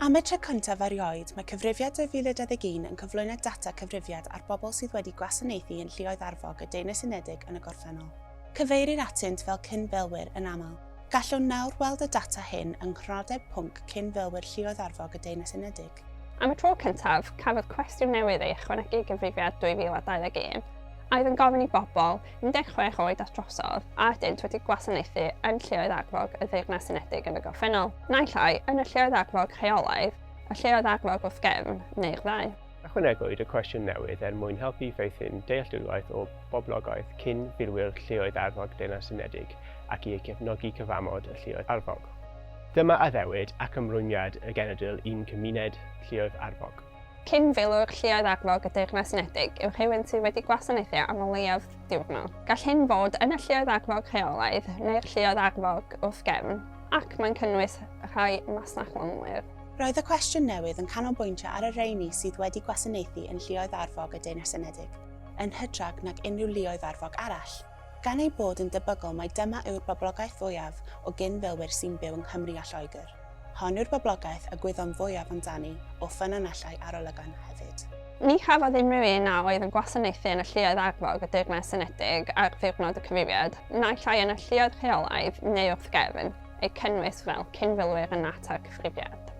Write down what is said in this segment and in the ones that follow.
Am y tro cyntaf erioed, mae Cyfrifiad 2021 yn cyflwyno data cyfrifiad ar bobl sydd wedi gwasanaethu yn Lluoedd Arfog y Deyrnas Unedig yn y gorffennol. Cyfeirir atynt fel cyn-filwyr yn aml. Gallwn nawr weld y data hyn yng Nghronodeb Pwnc Cyn-filwyr Lluoedd Arfog y Deyrnas Unedig. Am y tro cyntaf, cafodd cwestiwn newydd ei ychwanegu i Gyfrifiad 2021, a oedd yn gofyn i bobl 16 oed at drosodd, a ydynt wedi gwasanaethu yn Lleoedd Arfog y Ddeyrnas Unedig yn y gorffennol, naill ai yn y Lleoedd Arfog rheolaidd, y Lleoedd Arfog wrth gefn, neu'r ddau. Ychwanegwyd y cwestiwn newydd er mwyn helpu i feithrin dealltwriaeth o boblogaeth cyn filwyr Lleoedd Arfog Deyrnas Unedig ac i gefnogi cyfamod y Lleoedd Arfog. Dyma addewid ac ymrwymiad y genedl i'n cymuned Lleoedd Arfog. Cyn-filwr Lluoedd Arfog y Deyrnas Unedig yw rhywun sydd wedi gwasanaethu am o leiaf diwrnod. Gall hyn fod yn y Lluoedd Arfog rheolaidd neu'r Lluoedd Arfog wrth gefn, ac mae'n cynnwys rhai masnachlonwyr. Roedd y cwestiwn newydd yn canolbwyntio ar y rheini sydd wedi gwasanaethu yn Lluoedd Arfog y Deyrnas Unedig, yn hytrach nag unrhyw luoedd arfog arall. Gan eu bod yn debygol mai dyma yw'r boblogaeth fwyaf o gyn-filwyr sy'n byw yng Nghymru a Lloegr, hon yw'r boblogaeth a gwyddom fwyaf amdani o ffynonellau arolygon hefyd. Ni chafodd unrhyw un a oedd yn gwasanaethu yn y lluoedd arfog y Deyrnas Unedig ar ddiwrnod y cyfrifiad, naill ai yn y lluoedd rheolaidd neu wrth gefn, eu cynnwys fel cyn-filwyr yn natur y cyfrifiad.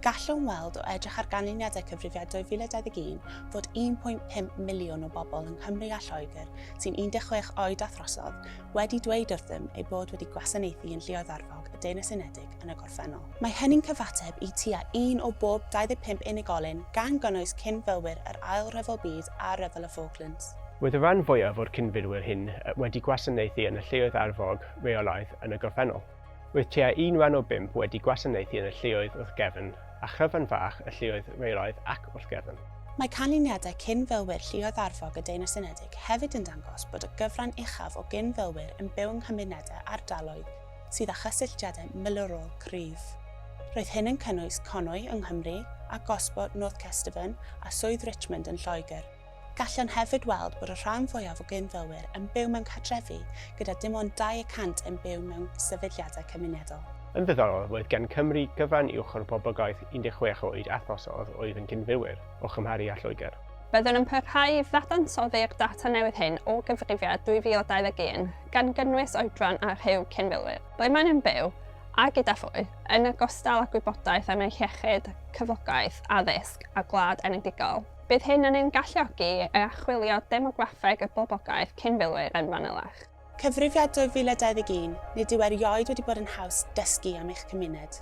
Gallwn weld o edrych ar ganlyniadau Cyfrifiad 2021 fod 1.5 miliwn o bobl yng Nghymru a Lloegr sy'n 16 oed a throsodd wedi dweud wrthym eu bod wedi gwasanaethu yn Lluoedd Arfog y Deyrnas Unedig yn y gorffennol. Mae hynny'n cyfateb i tua un o bob 25 unigolyn, gan gynnwys cyn-filwyr yr Ail Ryfel Byd a Rhyfel y Falklands. Roedd y rhan fwyaf o'r cyn-filwyr hyn wedi gwasanaethu yn y Lluoedd Arfog reolaidd yn y gorffennol. Roedd tua un wen o bump wedi gwasanaethu yn y lleoedd wrth gefn, a chryfan fach y lleoedd reilaidd ac wrth gefn. Mae canlyniadau cyn-filwyr lluoedd arfog y Deyrnas Unedig hefyd yn dangos bod y gyfran uchaf o gyn-filwyr yn byw yng nghymunedau ardaloedd sydd â chysylltiadau milwrol cryf. Roedd hyn yn cynnwys Conwy yng Nghymru, a Gosport, North Kesteven, a Swydd Richmond yn Lloegr. Gallwn hefyd weld bod y rhan fwyaf o gyn-filwyr yn byw mewn cartrefi gyda dim ond dau y cant yn byw mewn sefydliadau cymunedol. Yn ddiddorol, roedd gan Cymru gyfran uwch o'r boblogaeth 16 oed a throsodd oedd yn gyn-filwyr, o chymharu â Lloegr. Byddwn yn parhau i ddadansoddi'r data newydd hyn o gyfrifiad 2021, gan gynnwys oedran a rhyw cyn-filwyr, ble maen nhw'n byw, a gyda phwy, yn ogystal â gwybodaeth am eu hiechyd, cyflogaeth, addysg a gwlad enedigol. Bydd hyn yn ein galluogi i archwilio demograffeg y boblogaeth cyn filwyr yn fanylach. Cyfrifiad 2021, Nid yw erioed wedi bod yn haws dysgu am eich cymuned.